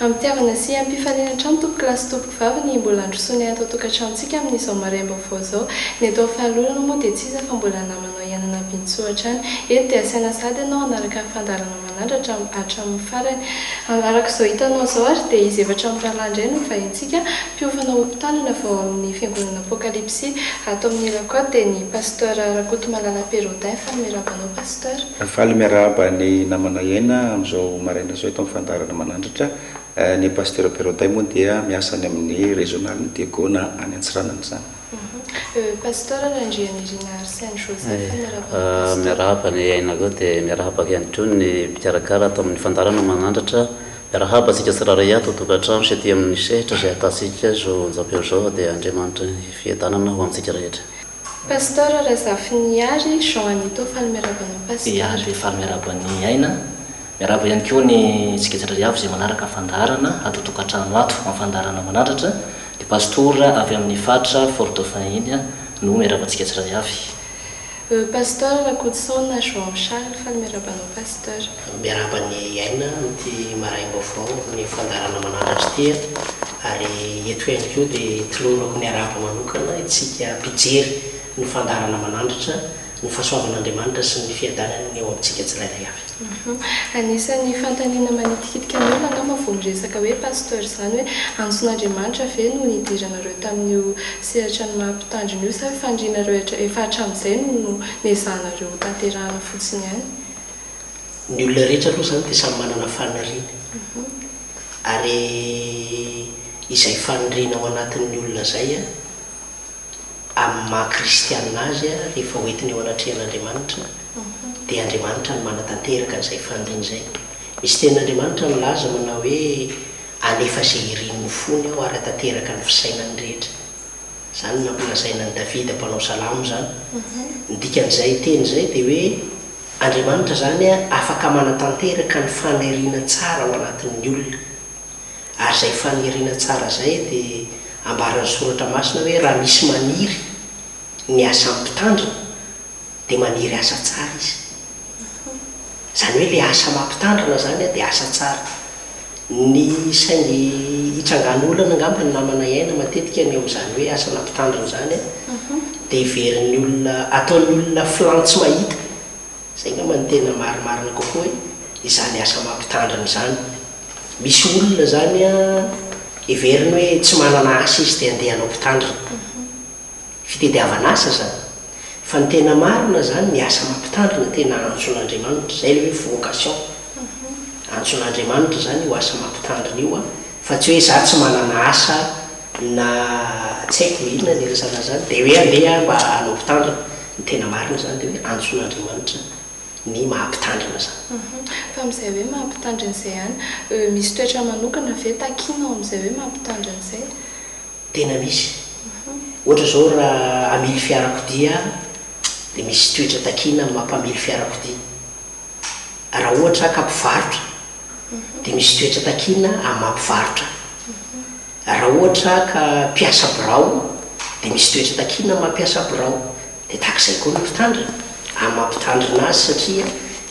Ampihavana sy ampifaliana hatrany tompoko lahy sy tompoko vavy ny mbola handrosoanay ato an-tokantranontsika amin'izao maraim-baovao izao. Ny atao faly olona moa dia tsy iza fa mbola namanao ihany an'Abintsoa hatrany. Eto dia asaina sahady ianao hanaraka ny fandaharana manandratra hatramin'ny farany. Araka izao hitanao izao ary dia izy efatra amin'ny rahalahy indray no hovaintsika mpiofana ho mpitandrina vao ao amin'ny fiangonana Apokalipsy ato amin'ny Irakoto dia ny Pasteur Rakotomalala Pérodain. Faly miraba anao Pasteur. Madagasikara. Faly miarahaba ny namana iaina amin'izao maraina izao eto amin'ny fandaharana Manandratra. Ny Pasitera Beroday moa dia miasa any amin'ny Régional-n'i Diego na any Antsiranana izany. Pasitera Randrianirina Arsène Joseph, miarahaba anao Pasitera. Miarahaba ny aina koa dia miarahaba ihany koa ny mpikarakara ato amin'ny fandaharana Manandratra. Miarahaba antsika tsirairay ato an-tokantrano sy aty amin'ny sehatra izay ahitantsika izao onjam-peo izao dia Andriamanitra ny fiadanana ho antsika rehetra. Pasteur Razafinihary Jean Anito Faly miarahaba anao Pasteur. Ia dia faly miarahaba an'i Aina. Miarahaba ihany koa ny antsika jiaby jiaby izay manaraka ny fandaharana ato an-tokantrano ato amin'ny fandaharana manandratra. Ny Pastora avy amin'ny faritra Fort Dauphin iny no miarahaba antsika jiaby jiaby. Pasteur Rakotosaona Jean Charles Faly miarahaba anao Pasteur. Miarahaba an'i Aina amin'ity maraim-baovao amin'ny fandaharana manaratra ity a! Ary eto ihany koa dia tolorako ny harahaba manokana isika mpijery ny fandaharana manandratra ny fahasoavan'Andriamanitra sy ny fiadanany ny eo amintsika tsirairay avy. Anisan'ny fanontaniana manitikitika ny olona angamba vao miresaka hoe Pasteur izany hoe antson'Andriamanitra ve no nidiranareo tamin'io sehatran'ny maha mpitandrina io sa fanirianareo efa hatramin'izay no no nezahanareo ho tanterahana fotsiny ihany? ny olona rehetra aloha izany dia samy manana faniriany ary izay faniriana ao anatin'ny olona izay an, amin'ny maha kristiana azy an, rehefa hoentiny eo anatrehan'Andriamanitra dia Andriamanitra no manatanteraka an'izay faniriany izay. Misy tenin'Andriamanitra milaza manao hoe, Hanefa izay irin'ny fony aho ary hatanteraka ny fisainany rehetra. Izany no nampilazaina an'i Davida mpanao salamo izany. Ny dikan'izay teny izay dia hoe, Andriamanitra izany afaka manatanteraka ny faniriana tsara ao anatin'ny olona. Ary izay faniriana tsara izay dia ambaran'ny Soratra Masina hoe raha misy maniry ny asan'ny mpitandrina dia maniry asa tsara izy. Izany hoe ilay asa maha-mpitandrina izany dia asa tsara. Ny saingy hitsangan olana angamba ny namana iaina matetika ny eo amin'izany hoe asana mpitandrina izany an, dia heverin'ny olona, ataon'ny olona flan tsy mahita, izay angamba no tena marimarina kokoa hoe izany asa maha mpitandrina izany. Misy olona izany an, heveriny hoe tsy manana asa izy dia andeha hanao mpitandrina. Fitediavana asa izany. Fa ny tena marina izany ny asa maha mpitandrina tena antson'Andriamanitra, izay ilay hoe vocation. Antson'Andriamanitra izany io asa mampitandrina io fa tsy hoe izaho tsy manana asa na tsy haiko na inona ny resaka an'izany dia hoe andeha mba hanao mpitandrina. Ny tena marina izany dia hoe antson'Andriamanitra ny maha mpitandrina izany. Fa amin'izay hoe maha mpitandrina izay ihany, misy toetra manokana ve takiana ao amin'izay hoe maha mpitandrina izay? Tena misy. Ohatra izao raha hamily fiarakodia aho dia misy toetra takiana amin'ny maha mpamily fiarakodia. raha ohatra ka mpivarotra dia misy toetra takiana amin'ny maha mpivarotra, raha ohatra ka mpiasa birao dia misy toetra takiana amin'ny maha mpiasa birao, dia tahaka izay koa ny mpitandrina amin'ny maha mpitandrina azy satria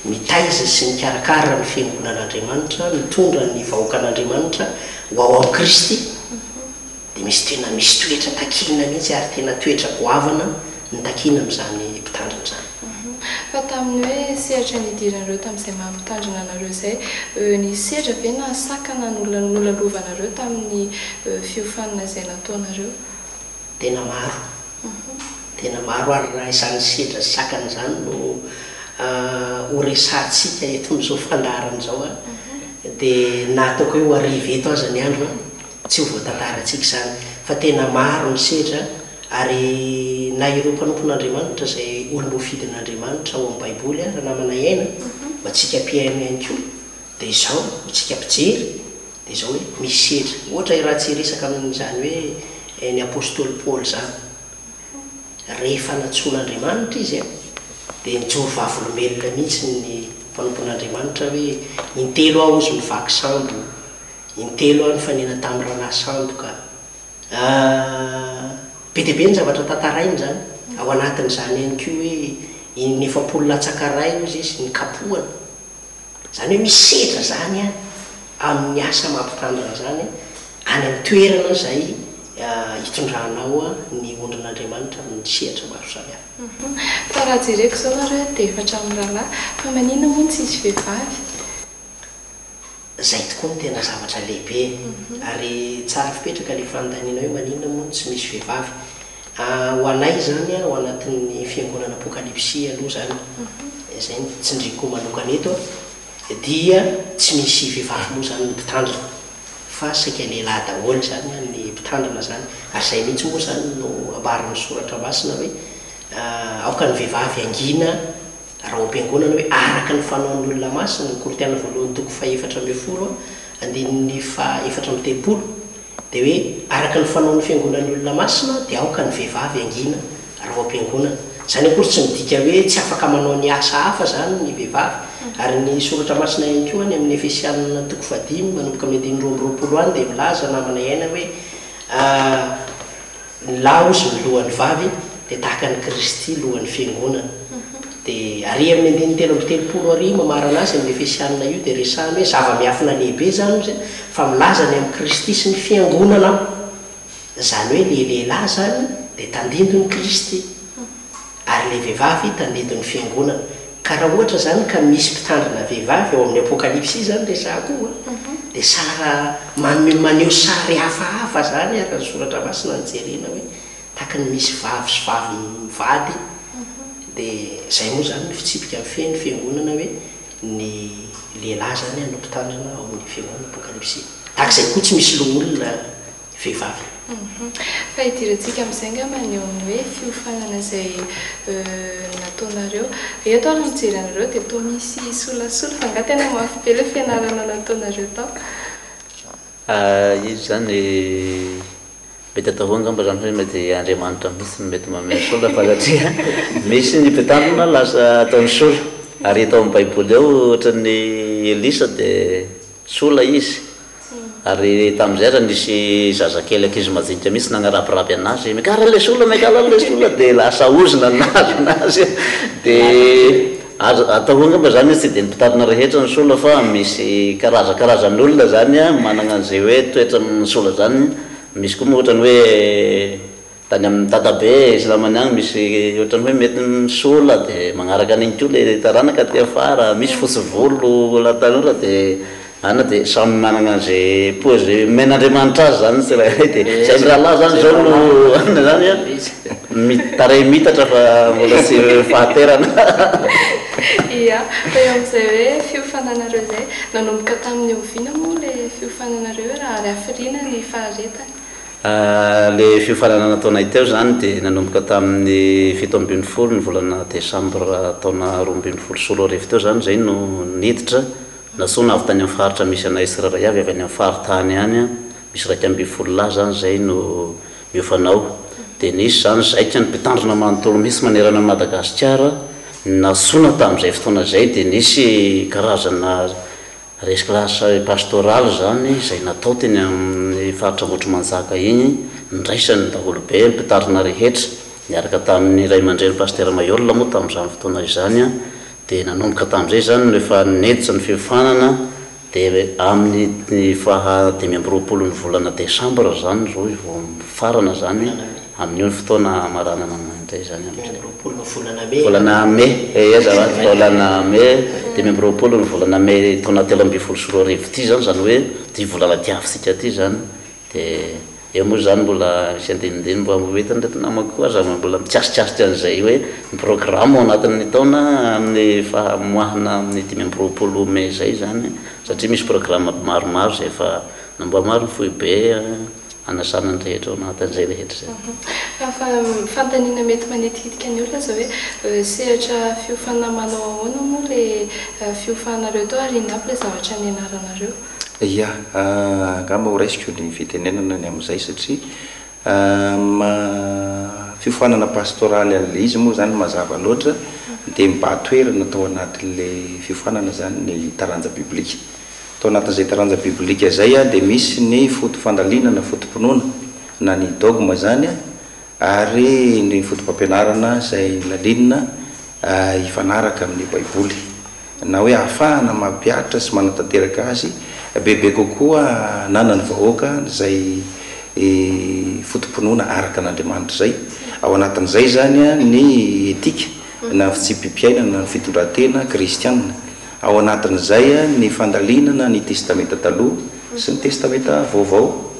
mitaiza sy mikarakara ny fiangonan'Andriamanitra, mitondra ny vahoakan'Andriamanitra ho ao amin'i Kristy. dia misy tena misy toetra takiana mihitsy ary tena toetra goavana ny takiana amin'izany mpitandrina izany. Fa tamin'ny hoe sehatra nidiran'ireo tamin'izay maha mpitandrina anareo izay, nisy sedra ve na sakana nolalovanareo tamin'ny fiofanana izay nataonareo? Tena maro, tena maro ary raha izany sedra sy sakana izany no horesahantsika eto amin'izao fandaharana izao dia na ataoko hoe ho arivo eto aza ny andro, Tsy ho voatantarantsika izany fa tena maro ny sedra ary na ireo mpanompon'Andriamanitra izay olom-boafidin'Andriamanitra ao amin'ny Baiboly ary namana aina ho antsika mpihaino ihany koa dia izao ho antsika mpijery dia izao hoe misy sedra ohatra raha tsy hiresaka amin'izany hoe ny apostoly Paoly izany rehefa nantsoin'Andriamanitra izy a dia nijoro vavolombelona mihitsy ny mpanompon'Andriamanitra hoe intelo aho hozy no vaky sambo Intelo aho nifanena tamin'i Ranasandoka. Ahh, be dia be ny zavatra tantarainy izany. Ao anatin'izany ihany koa hoe iny efapolo latsaka iray hozy izy nikapohana. Izany hoe misy sedra izany an, amin'ny asa mampitandrina izany any amin'ny toerana izay hitondranao ny ondrin'Andriamanitra amin'ny sehatra maro samihafa. Ahh, fa raha jereko izao nareo dia efatra amin'ny rahalahy, fa maninona moa no tsisy vehivavy? Zay tokoa no tena zavatra lehibe e! Ary tsara fipetraka le fanontaniana hoe maninona moa no tsy misy vehivavy? Ahh ho anay izany ao anatin'ny fiangonana Apokalipsy aloha izany, izay no tsindriako manokana eto a, dia tsy misy vehivavy moa izany ny mpitandrina, fa saika lehilahy daholo izany ny mpitandrina izany, ary izay mihitsy moa izany no ambaran'ny soratra masina hoe aoka ny vehivavy hangina, Rahoam-piangonana hoe araka ny fanaon'ny olona masina, ny Korintiana voalohany toko fahefatra ambin'ny folo, andininy fahaefatra amby telopolo, dia hoe araka ny fanaon'ny fiangonan'ny olona masina dia aoka ny vehivavy hangina rahoam-piangonana. Izany akory tsy midika hoe tsy afaka manao ny asa hafa izany ny vehivavy, ary ny soratra masina ihany koa any amin'ny Efesianina toko fahadimy manomboka amin'ny andininy roa amby roapolo any dia milaza namana iaina hoe, Ny lahy hozy no lohan'ny vavy, dia tahaka an'i Kristy lohan'ny Fiangonana. Dia ary amin'ny andininy telo amby telopolo ary mamarana azy amin'ny Efesianina io dia resahany hoe zava-miafina lehibe izany hozy fa milaza ny amin'i Kristy sy ny Fiangonana aho. Izany hoe ilay lehilahy izany dia tandindon'i Kristy. ary ilay vehivavy tandindon' ny fiangonana. Ka raha ohatra izany ka misy mpitandrina vehivavy ao amin' ny Apôkalipsy izany resahako io an, dia sara manome maneho sary hafahafa izany araka ny Soratra Masina ny jerena hoe tahaka ny misy vavy sy vavy mivady. Dia izay moa izany no fitsipika mifehy ny fiangonana hoe ny lehilahy izany no mpitandrina ao amin' ny fiangonana Apôkalipsy. Tahaka izay koa tsy misy loholona. vehivavy. Fa idirantsika amin'izay angamba ny eo amin'ny hoe fiofanana izay nataonareo. Eto aho raha mijery anareo dia toa misy solasola fa angaha tena mafy be ilay fianarana nataonareo tao? Izy izany mety atao hoe angamba izany hoe mety Andriamanitra mihitsy no mety manome sola fa satria misy ny mpitandrina lasa ataony sola. Ary hita ao amin'ny baiboly ao ohatran'ny Elisa dia sola izy. Ary tamin'izay raha nisy zazakely ankizy madinika mihitsy nagnarabiraby anazy, megala ilay sola, megala ilay sola, dia lasa ozona ny nahazo anazy. Dia azo atao koa angamba izany hoe tsy dia nopitarina rehetra ny sola fa misy karazakarazan'olona izany manana an'izay hoe toetra amin'ny sola izany. Misy koa moa ohatrany hoe. Tany amin'ny dadabe sy namany any misy ohatran'ny hoe mety misola dia magnaraka an'iny koa le taranaka aty afara, misy fotsy volo la tanora dia any dia samy managna an'ze pôzy omen'Andriamanitra azy zany ny tsirairay dia zay ny rahalahy zany zao no hanina zany an, mi- tarehy mitatra fa mbola tsy fahaterana. Ia, fa eo amin'izay hoe fiofananareo izay, nanomboka tamin'ny oviana moa ilay fiofananareo raha avy hafiriana ny faharetany? Ilay fiofanana nataonay teo izany dia nanomboka tamin'ny fito ambin'ny folo ny volana desambra taona roa ambin'ny folo sy roa arivo teo izany izay no niditra nantsoina avy tany amin'ny faritra misy anay tsirairay avy, avy any amin'ny faritany any misy iraika ambin'ny folo lahy izany izay no miofana ao. Dia nisy izany zaika ny mpitandrina manontolo mihitsy manerana an'i Madagasikara nantsoina tamin'izay fotoana izay dia nisy karazana Resaka asa pastoraly izany izay natao teny amin'ny faritra Ambohitrimanjaka iny, niraisan'ny daholobe, ny mpitarina rehetra, niaraka tamin'ny ray aman-dreny Pasitera Maiola moa tamin'izany fotoana izany dia nanomboka tamin'izay izany no efa neditra ny fiofanana dia amin'ny faha dimy amby roapolon'ny volana desambra izany izao vao mifarana izany Amin'io ny fotoana hamaranana an'izany indray izany amin'izay. Dimy amby roapolo ny volana Mey. Volana Mey, ehe zany hoe volana Mey, dimy amby roapolo ny volana Mey taona telo ambin'ny folo sy roa arivo ity izany, izany hoe ity volana diavintsika ity izany, dia eo moa izany mbola misy andinindininy mba ho entin'ireto namako koa aza mbola mikasikasika an'izay hoe ny programme ao anatin'ny taona amin'ny fahamoahana amin'ny dimy amby roapolo Mey izay izany, satria misy programme maromaro izay efa namboarin'ny foibe. hanasana ny rehetra ao anatin'izay rehetra izay. Fanontaniana mety manitikitika ny olona izao hoe sehatra fiofana manao ahoana moa ilay fiofanareo tao ary inona aby ilay zavatra nianaranareo? Ia, angamba ho raisiko ny fitenenana ny amin'izay satria amin'ny maha fiofanana pastoraly an'ilay izy moa izany mazava loatra dia mibahan-toerana tao anatin'ilay fiofanana izany ny taranja biblika. Tao anatin'izay taranja biblika izay dia misy ny foto-fandalinana na foto-pinoana na ny dogma izany ary ny fotopampianarana izay nolalina hifanaraka amin'ny Baiboly na hoe ahafahana mampihatra sy manatanteraka azy bebe kokoa ananan'ny vahoaka izay foto-pinoana araka an'Andriamanitra izay ao anatin'izay izany ny etika na fitsipi-piainana na ny fitondran-tena kristiana Ao anatin'izay ny fandalinana ny Testamenta Taloha sy ny Testamenta Vaovao.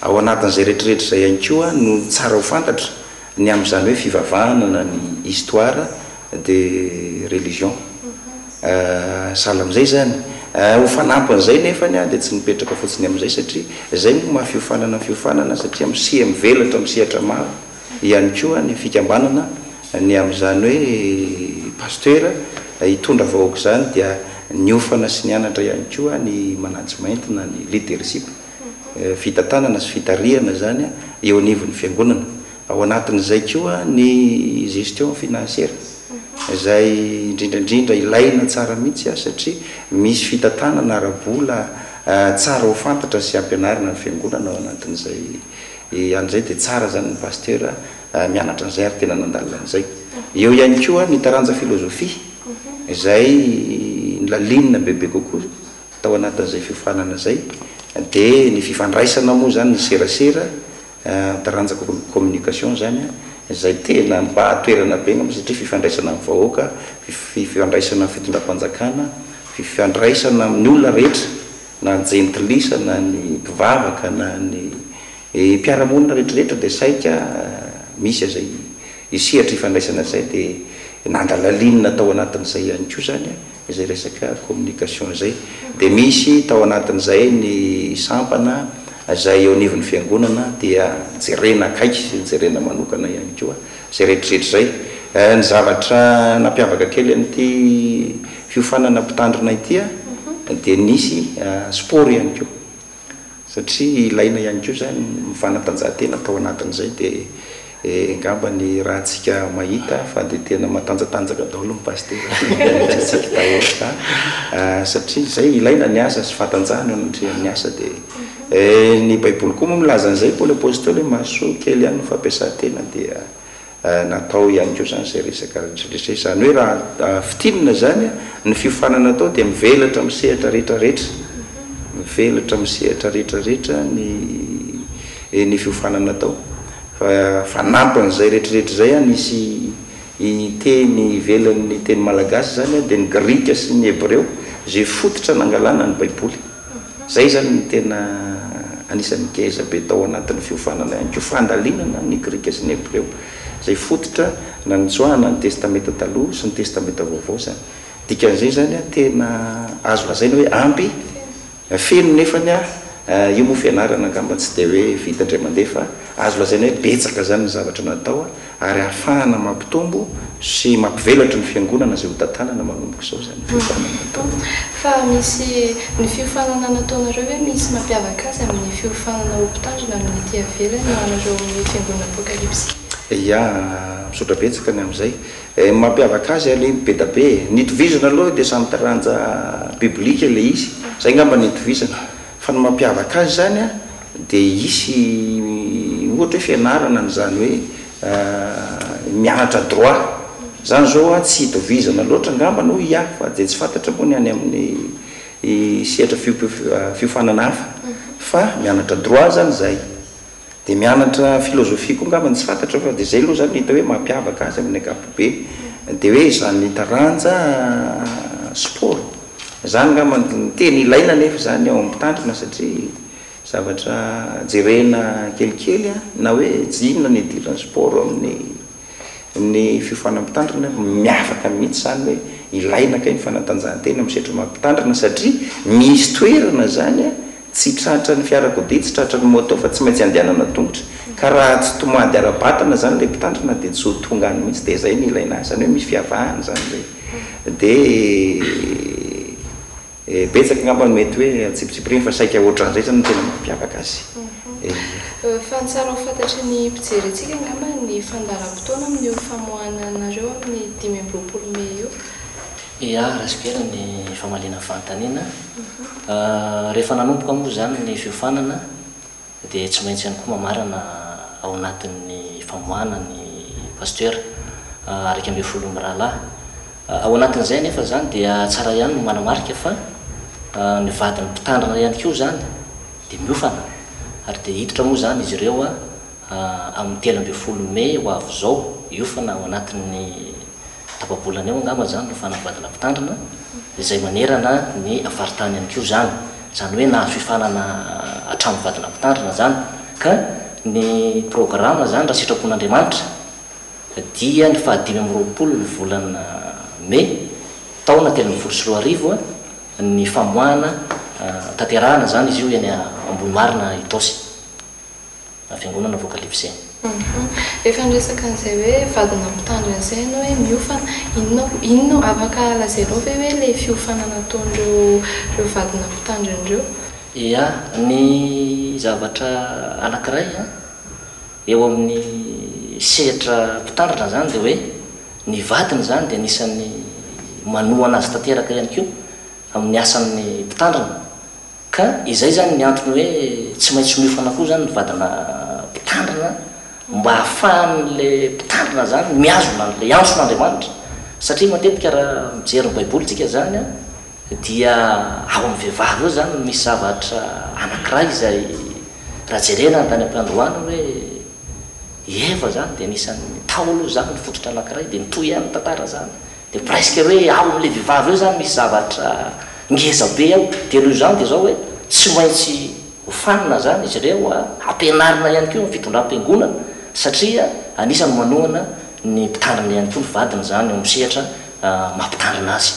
Ao anatin'izay rehetrarehetra izay ihany koa no tsara ho fantatra ny amin'izany hoe fivavahana na ny histoire de religion. Sahala amin'izay izany. Ho fanampin'izay nefa dia tsy nipetraka fotsiny amin'izay satria izay no maha fiofanana ny fiofanana satria miseha mivelatra amin'ny sehatra maro. ihany koa ny fikambanana ny amin'izany hoe Pasitera hitondra vahoaka izany dia niofana sy nianatra ihany koa ny management na ny leadership, fitantanana sy fitarihana izany eo anivon'ny Fiangonana. Ao anatin'izay koa ny gestion financière izay indrindra indrindra ilaina tsara mihitsy satria misy fitantanana ara-bola tsara ho fantatra sy ampianarina ny Fiangonana ao anatin'izay. Dia an'izay dia tsara izany ny Pasteur mianatra an'izay ary tena nandalina an'izay. Eo ihany koa ny taranja filozofia izay nolalinina bebe kokoa tao anatin'izay fiofanana izay. Dia ny fifandraisana moa izany, ny serasera, ny taranja communication izany izay tena nibahan-toerana be angamba satria fifandraisana amin'ny vahoaka, fifandraisana amin'ny fitondram-panjakana, fifandraisana amin'ny olona rehetra na ny jentilisa na ny mpivavaka na ny mpiara-monina rehetrarehetra dia saika misy izay io sehatra ifandraisana izay dia nandalalinina tao anatin'izay ihany koa izany izay resaka communication izay dia misy tao anatin'izay ny sampana izay eo anivon'ny fiangonana dia jerena akaiky sy jerena manokana ihany koa Izay rehetrarehetra izay. Ny zavatra nampiavaka kely an'ity fiofanana mpitandrina ity dia nisy sport ihany koa satria ilaina ihany koa izany ny fanatanjahantena tao anatin'izay dia angamba ny ratsika mahita fa dia tena matanjatanjaka daholo ny pasitera satria izay ilaina ny asa sy fahatanjahana eo anatrehan'ny asa dia Eh ny baiboly koa moa milaza an'izay Paoly apostoly hoe mahasoa kely ihany ny fampiasan-tena dia natao ihany koa izany izay resaka retraretra izany hoe raha fintinina izany ny fiofanana atao dia mivelatra amin'ny sehatra retraretra mivelatra amin'ny sehatra retraretra ny ny fiofanana atao fa fanampin'izay retraretra izay an hisy hiteny ivelan'ny teny malagasy izany dia ny grika sy ny hebreo izay fototra nangalana ny baiboly Izay izany no tena anisan'ny geja be tao anatin'ny fiofanana ihany koa, fandalinana ny Grika sy ny Hebreo, izay fototra nanintsoahana ny Testamenta Taloha sy ny Testamenta Vaovao izany. Dikan'izay izany, tena azo lazaina hoe ampy, feno nefany, io moa fianarana angamba tsy dia hoe vita indray mandeha fa azo lazaina hoe betsaka izany ny zavatra natao. ary ahafahana mampitombo sy mampivelatry ny fiangonana izay hotantanana manomboka izao izany fiofanana ataonareo. Fa misy, ny fiofanana nataonareo ve misy mampiavaka azy amin'ny fiofanana ho mpitandrina amin'ny ety ivelany ho anareo amin'ny fiangonana Apokalipsy? Ia, misaotra betsaka ny amin'izay. Ny mampiavaka azy aloha be da be e, ny itovizana aloha dia samy taranja biblika ilay izy, izay angamba no itovizana, fa ny mampiavaka azy izany a, Dia hisy ohatra hoe fianarana an'izany hoe mianatra droit izany izao an, tsy itovizana loatra angambany hoy i ahy fa dia tsy fantatra moa ny any amin'ny sehatra fiofanana hafa fa mianatra droit izany izay dia mianatra philosophie koa angambany tsy fantatra fa dia izay aloha izany no hita hoe mampiavaka azy amin'ny ankapobeny dia hoe izany taranja sport izany angambany no tena ilaina anefa izany ao amin'ny mpitandrina satria Zavatra jerena kelikely na hoe jinona ny idiran'ny sport eo amin'ny amin'ny fiofanan'ny mpitandrina, miavaka mihitsy izany hoe ilaina kay ny fanatanjahantena amin'ny sehatry ny maha mpitandrina satria misy toerana izany tsy tratran'ny fiarakodia, tsy tratran'ny moto fa tsy maintsy andehanana an-tongotra ka raha tsy tomady ara-batana izany ilay mpitandrina dia tsy ho tonga any mihitsy dia izay no ilaina azy, izany hoe misy fiavahana izany hoe dia Eh, betsaka angamba no mety hoe antsipitsipiriny fa saika ohatran'izay izany no tena mampiavaka azy. Eh. Fa ny tsara ho fantatry ny mpijery antsika angamba ny fandaharam-potoana amin'io famoahana anareo amin'ny dimy amby roapolo mey io. Iah, raha sibera ny famaliana fanontaniana. Ah, rehefa nanomboka moa izany ny fiofanana. Dia tsy maintsy ihany koa mamarana ao anatin'ny famoahana ny Pasitera iraika ambin'ny folo mirahalahy. Ao anatin'izay anefa izany dia tsara ihany ny manamarika fa ny vadin'ny Mpitandrina ihany koa izany dia miofana ary dia hiditra moa izany izy ireo amin'ny telo ambin'ny folo mey ho avy izao, hiofana ao anatin'ny. Tapa-bolana eo angamba izany no fanambadiana mpitandrina izay manerana ny faritany ihany koa izany. Izany hoe nahazo fifanana hatramin'ny vadina mpitandrina izany. Ka ny programa izany raha sitrapon'Andriamanitra dia ny faha dimy amby roapolo ny volana mey taona telo ambin'ny folo sy roa arivo ny famoahana tanterahana izany izy io eny Ambohimarina Itaosy. na fiangonana voakalifizeny. Ahaa. Rehefa niresaka an'izay hoe vadina mpitandro an'izay ianao hoe miofana, inona inona, afaka lazainao ve hoe ilay fiofana nataon'ireo ireo vadina mpitandrina ireo? Ia, ny zavatra anankiray an, eo amin'ny sehatra mpitandrina izany dia hoe ny vadiny izany dia anisan'ny manohana azy tanteraka ihany koa amin'ny asan'ny mpitandrina. Ka izay zany ny antony hoe tsy maintsy miofana koa zany ny vadina mpitandrina mba hahafahan'le mpitandrina zany mihazona an'le antson'Andriamanitra satria matetika raha mijery ny baiboly tsika zany a dia ao amin'ny vehivavy eo zany no misy zavatra anankiray izay raha jerena ny tany am-piandohana hoe i Eva zany dia anisan'ny tao aloha zany ny fototra anankiray dia mitohy ihany ny tantara zany Dia presque hoe ao amin'ilay vehivavy eo izany misy zavatra ngeza be ao. Dia noho izany dia izao hoe tsy maintsy hofanina izany izy ireo, hampianarina ihany koa ny fitondram-piangonana satria anisan'ny manohana ny mpitandrina ihany koa ny vadiny izany eo amin'ny sehatra maha-mpitandrina azy.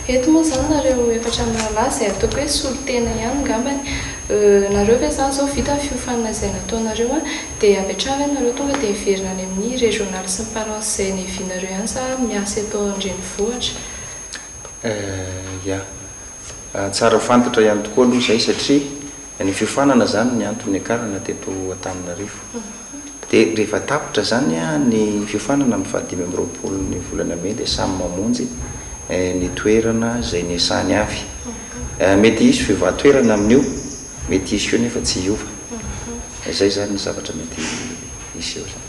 Eto moa izany nareo efatra mirahalahy izay ataoko hoe solontena ihany ngambany. Euh, nareo ve izany izao vita ny fiofanana izay nataonareo an? Dia avy hatrany ianareo tonga dia hiverina any amin'ny régional sy ny parents izay nihavianareo ihany sa miasa eto an-drenivohitra? Eh, ya. Tsara fantatra ihany tokoa aloha izay satria ny fiofanana izany ny antony niakarana teto Antananarivo. Dia rehefa tapitra izany ny fiofanana amin'ny fahadimy amby roapolo ny volana mey dia samy mamonjy ny toerana izay niasany avy. Mety hisy fiovà-toerana amin'io. Mety hiseho nefa tsy hiova. Izay izany ny zavatra mety hiseho izany.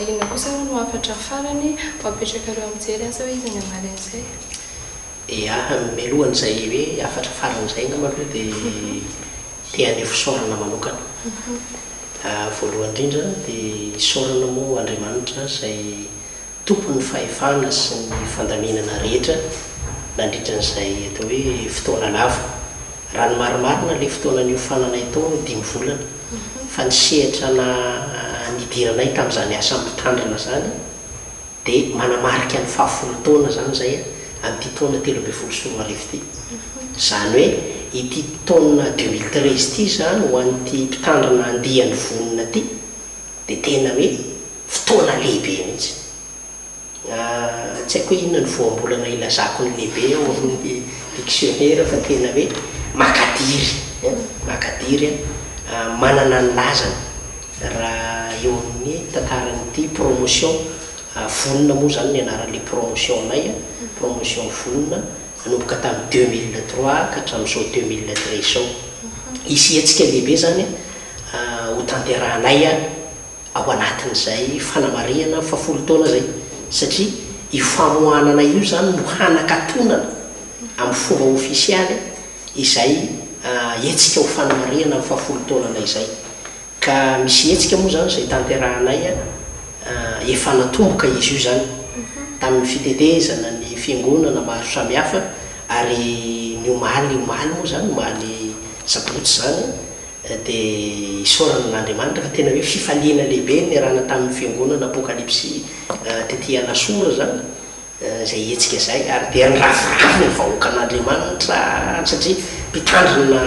Inona kosa hono hafatra farany ho apetrakareo mijery asa hoe iza ny hamalin'izay? Ia, mialohan'izay hoe hafatra farany izay angamba aloha dia te haneho fisaorana manokana. Voalohany indrindra dia isaorana moa Andriamanitra izay. Tompon'ny fahefana sy ny fandaminana rehetra nandritra an'izay atao hoe fotoana lava. Raha ny marimarina, ilay fotoana niofananay tao no dimy volana, fa ny sehatra na nidiranay tamin'izany asa mpitandrina izany dia manamarika ny fahafolo taona izany izay amin'ity taona telo ambin'ny folo sy roa arivo ity. Izany hoe ity taona deux mille treize ity izany ho an'ity mpitandrina andiany vonona ity dia tena hoe Fotoana lehibe mihitsy. Tsy haiko hoe inona ny voambolana ilazako ny lehibe ao amin'ny diksionera fa tena hoe makadiry, makadiry, manana ny lazany raha eo amin'ny tantaran'ity promotion vonona moa izany ny anaran'ilay promotion anay, promotion vonona nanomboka tamin'ny deux mille trois ka hatramin'izao deux mille treize izao. Hisy hetsika lehibe izany hotanterahanay. ao anatin'izay fanamarihana fa folo taona izay, satria io famohanana io izany no hanakatonana amin'ny fomba ofisialy izay hetsika ho fanamarihana ny fahafolo taonanay izay. Ka misy hetsika moa izany izay tanterahanay, efa natomboka izy io izany tamin'ny fitetezana ny fiangonana maro samihafa, ary ny omaly, omaly moa izany, omaly sabotsy izany, dia isaorana an'Andriamanitra fa tena hoe fifaliana lehibe ny niarahana tamin'ny Fiangonana Apokalypsy tety Alasora izany izay hetsika izay ary dia niraviravy ny vahoakan'Andriamanitra satria mpitandrina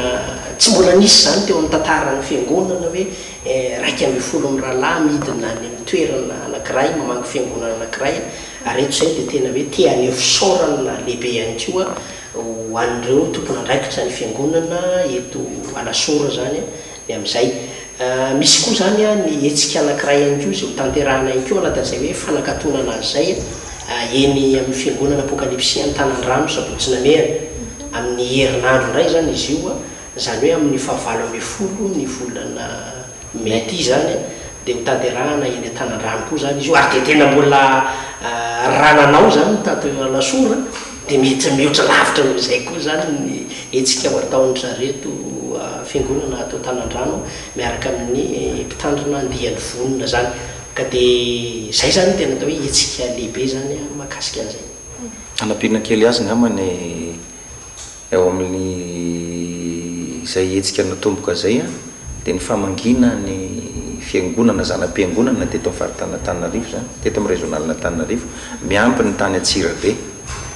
tsy mbola nisy izany teo amin'ny tantaran'ny Fiangonana hoe iraika ambin'ny folo mirahalahy midina any amin'ny toerana anankiray mamaky Fiangonana anankiray ary eto izay dia tena hoe te haneho fisaorana lehibe ihany koa ho an'ireo tompon'andraikitra ny fiangonana eto Alasora izany ny amin'izay. Misy koa izany ny hetsika anankiray ihany koa izay ho tanterahina ihany koa ao anatin'izay hoe fanakatonana azy izay eny amin'ny fiangonana Apokalipsy Antanandrano sabotsy namehana. Amin'ny herinandro indray izany izy io, izany hoe amin'ny fahavalo ambin'ny folo ny volana. Mety izany dia ho tanterahana eny an-tanan-drano koa izany izy io, ary dia tena mbola raha nanao izany ny tato eo Alasora dia mety mihoatra lavitra noho izay koa izany ny hetsika ho ataon-dry zareto fiangonana ato an-tanan-drano miaraka amin'ny mpitandrina andiany vonona izany. Ka dia izay izany no tena atao hoe hetsika lehibe izany mahakasika an'izay. Hanampiana kely azy angamba ny. Eo amin'izay hetsika natomboka izay dia ny famangiana ny fiangonana zana-piangonana teto amin'ny faritan'Antananarivo izany, teto amin'ny Régionalin'Antananarivo, miampy ny tany Antsirabe.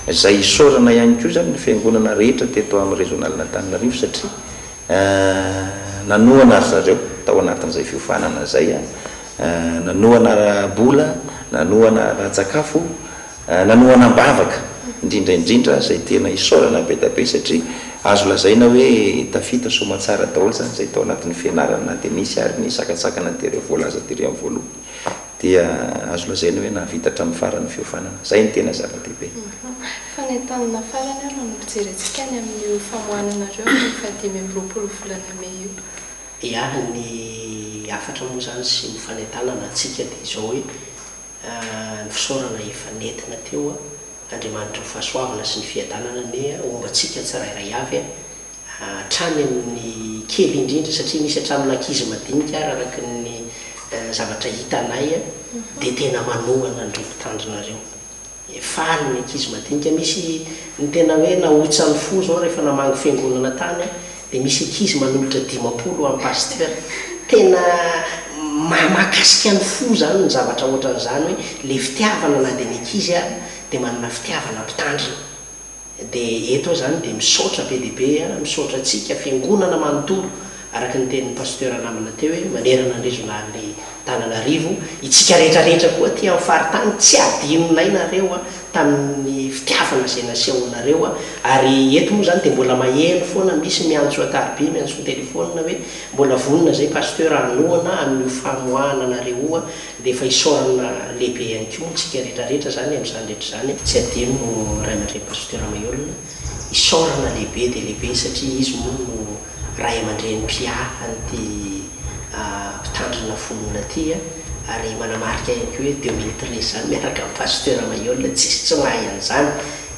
Izay isaorana ihany koa izany ny fiangonana rehetra teto amin'ny Régionalin'Antananarivo satria nanohana ry zareo tao anatin'izay fiofanana izay, nanohana ara-bola, nanohana ara-tsakafo. Nanohana am-bavaka, indrindra indrindra izay tena isaorana be dia be satria azo lazaina hoe tafita soamantsara daholo izany izay tao anatin'ny fianarana na dia nisy ary ny sakantsakana tery amin'ny voalaza tery amin'ny voalohany dia azo lazaina hoe nahavita hatramin'ny faran'ny fiofanana. Izay no tena zava-dehibe. Fa ny antanana farany ary no fijerentsika any amin'io famoahananareo ny fahadimy amby roapolo volana mey io. Iany ny hafatra moa izany sy ny fanentanana antsika dia izao hoe. Ny fisaorana efa nentina teo a! Andriamanitra ny fahasoavana sy ny fiadanana anie homba antsika tsirairay avy a! Hatrany amin'ny kely indrindra satria misy hatramin'ny ankizy madinika ary araka ny zavatra hitanay a dia tena manohana an'ireo mpitandrina ireo. Faly ny ankizy madinika, misy ny tena hoe nahotsany fo izao rehefa namangy fiangonana tany a! Dia misy ankizy manolotra dimampolo am pasteur. Tena mahamahakasika ny fo zany ny zavatra ohatran'izany hoe le fitiavana na dia ny ankizy ary dia manana fitiavana mpitandrina. Dia eto aho zany dia misaotra be dia be an, misaotra antsika fiangonana manontolo araka ny tenin'ny pasteur namana teo hoe manerana ny regional ny Antananarivo, itsika rehetra rehetra koa aty amin'ny faritany tsy adinonay nareo a, tamin'ny fitiavana izay nasehonareo a, ary eto moa izany dia mbola maheno foana misy miantso ankaribe miantso an-telefaonina hoe mbola vonona izay Pasteur hanohana amin'io famoahana anareo io a, dia efa isaorana lehibe ihany koa moa tsika rehetra rehetra izany amin'izany rehetra izany a. Tsy adino Ray aman-dReny Pasteur Maihol. isaorana lehibe dia lehibe satria izy moa no ray aman-dreny mpiaha an'ity mpitandrina finoana ity ary manamarika ihany koa hoe deux mille treize izany miaraka amin'i Pasteur Mailhol tsisy tsy mahay an'izany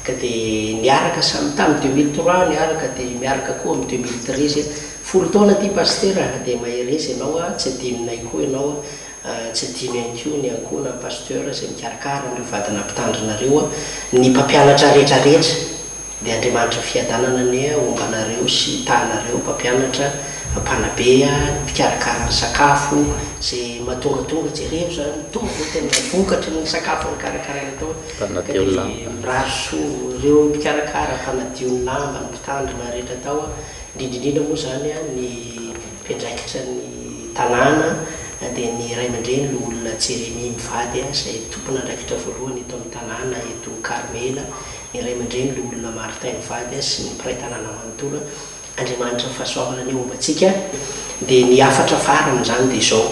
ka dia niaraka samy tamin'ny deux mille trois niaraka dia miaraka koa amin'ny deux mille treize folo taona ity Pasteur a dia mahereza ianao a tsy adinonay koa ianao a. Tsy adino ihany koa ny ankoho na ny pasteur izay mikarakara an'ireo vadinà mpitandrina ireo. Ny mpampianatra rehetra rehetra dia Andriamanitra fiadanana anie homba anareo sy tahanareo mpampianatra, mpanabe, ny mpikarakara ny sakafo, izay mahatongatonga jereo izany mitovy izao tena vokatry ny sakafo nikarakaraina tao ka dia mirary soa ireo mpikarakara, mpanadio ny lamba, ny mpitandrina rehetra tao, indrindra indrindra moa izany ny. Mpiandraikitra ny tanàna dia ny ray aman-dreny Loholona Jeremy mivady izay tompon'andraikitra voalohany eto amin'ny tanàna eto Karmela, ny ray aman-dreny Loholona Martin mivady sy ny mpiray tanàna manontolo. Andriamanitra ny fahasoavana anie homba antsika dia ny hafatra faran'izany dia izao,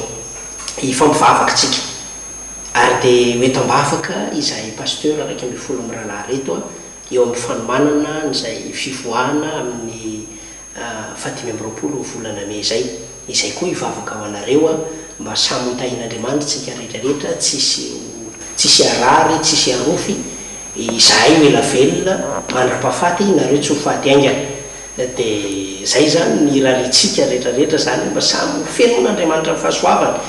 hifampivavaka isika ary dia ho eto am-bavaka izahay Pasteur iraika ambin'ny folo mirahalahy ireto eo amin'ny fanomanana an'izay fivoahana amin'ny fahadimy amby roapolo volana mey izay, izay koa hivavaka ho anareo aho mba samy ho tahin'Andriamanitra tsika rehetra rehetra tsisy ho tsisy harary tsisy harofy izahay ho ela velona mandrapafaty nareo tsy ho faty aingana de zay zany ny raritsika rehetra rehetra zany mba samy ho fenoin'Andriamanitra ny fahasoavany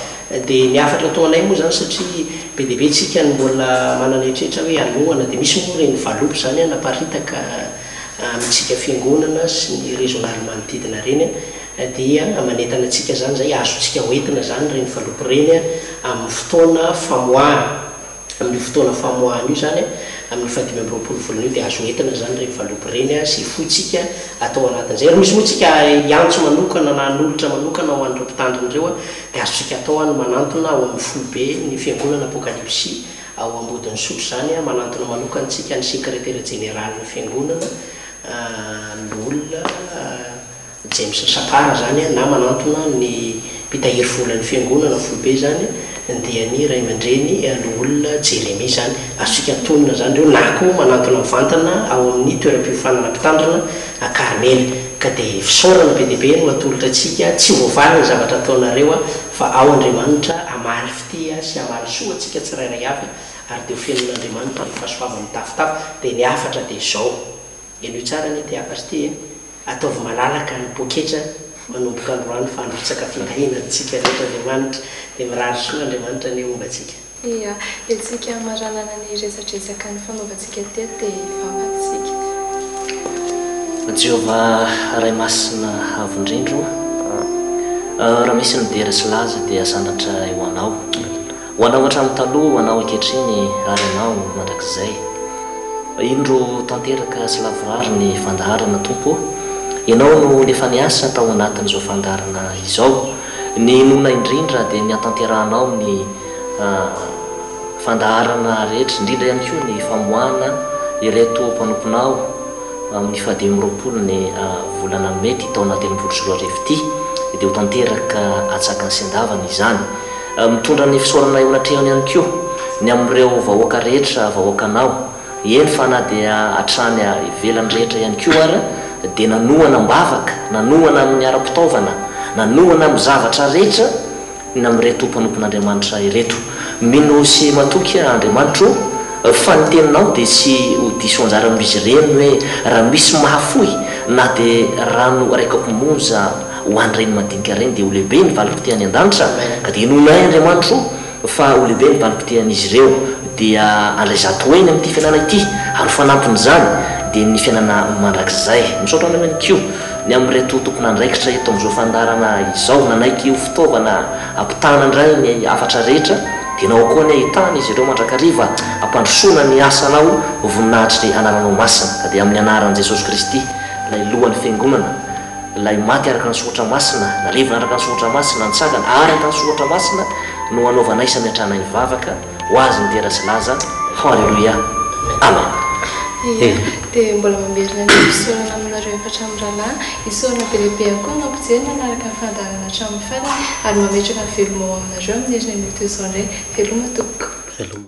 de ny hafatra atao anay moa zany satria be de be tsika no mbola manana eritreritra hoe hanohana de misy moa reny valopy zany a naparitaka amintsika fiangonana sy ny rezon'ala manodidina ireny dia manentana antsika izany izay azontsika hoentina izany ireny valopy ireny amin'ny fotoana famoahana, amin'io fotoana famoahana io izany amin'ny fahadimy amby roapolo volana io dia azo hoentina izany ireny valopy ireny sy hifoitsika atao anatin'izay ary misy moa tsika hiantso manokana na hanolotra manokana ho an'ireo mpitandrina ireo dia azontsika atao ny manantona ao amin'ny foibe ny fiangonana apokalipsy Ao Ambodin'Isotry izany manantona manokana antsika ny Sekretera Jeneralin'ny Fiangonana loholona James Sapara izany na manantona ny Mpitahiry Volan'ny Fiangonana foibe izany dia ny Ray aman-dReny loholona Jeremia izany. Azontsika antonona izany ireo na koa manantona mivantana ao amin'ny Toeram-piofanana Mpitandrina Karmely. Ka dia fisaorana be dia be no atolotra antsika, tsy voavaly ny zavatra ataonareo fa ao Andriamanitra hamaly. Tia sy hamaly soa antsika tsirairay avy ary dia ho fenoin'Andriamanitra ny fahasoavany mitafotafo. Dia ny hafatra dia izao, henoy tsara anie ity hafatra ity e, ataovy malalaka ny poketra manomboka androany fa handrotsaka findahiana antsika rehetra Andriamanitra. Dia mirary soa Andriamanitra anie homba antsika. Dia entintsika hamaranana ny resadresaka nifanaovantsika. Gate te hivavaka isika. Ry Jéhovah Ray Masina Avo Indrindra ô, raha misy ny dera sy laza dia sandratra ho Anao. Ho Anao hatramin'ny taloha, ho Anao ankehitriny ary Anao mandrakizay. Indro tanteraka sy lavorary ny fandaharana Tompo ô. Ianao no efa niasa tao anatin'izao fandaharana izao. Ny inoana indrindra dia ny hatanterahanao ny. fandaharana rehetra, indrindra ihany koa ny famoahana ireto mpanomponao amin'ny fahadimy amby roapolo ny volana mey ity taona telopolo sy roa arivo ity, dia ho tanteraka atsakany sy andavany izany. Mitondra ny fisaorana eo anatrehany ihany koa ny amin'ireo vahoaka rehetra vahoakanao, eny fa na dia hatrany ivelany rehetra ihany koa ara dia nanohana am-bavaka, nanohana amin'ny ara-pitaovana, nanohana amin'ny zavatra rehetra, na amin'ireto mpanompon'Andriamanitra ireto. Mino sy matoky aho Andriamanitro fa ny teninao dia tsy ho diso anjara amin'izy ireny hoe raha misy mahafoy na dia rano iray kaopy monja ho an'ireny madinika ireny dia ho lehibe ny valiko ity any an-danitra ka dia inoanay Andriamanitro fa ho lehibe ny valiko ity an'izy ireo dia handray zato heny amin'ity fianana ity ary ho fanampin'izany dia ny fianana mandrakizay. Misaotra anao ihany koa. Ny amin'ireto tompon'andraikitra eto amin'izao fandaharana izao, nanaiky ho fitaovana hampitana indray ny hafatra rehetra, dinao koa anie hitana izy ireo mandrakariva hampandrosoana ny asanao ho voninahitry ny anaranao masina, ka dia amin'ny anaran'i Jesosy Kristy, ilay lohan'ny Fiangonana, ilay maty araka ny soratra masina, narivony araka ny soratra masina, nitsangana araka ny soratra masina, no hanaovanay samy hatrana hivavaka. Ho azy ny dera sy laza fo Alléluia Amen Ia dia mbola mamerina ny fisaorana aminareo efatra mirahalahy isaorana be lehibe ihany koa ny mampijery manaraka ny fandaharana hatramin'ny farany ary mametraka ny veloma ho aminareo amin'ny heriny amin'io toy izao indray Veloma tompoko. Veloma.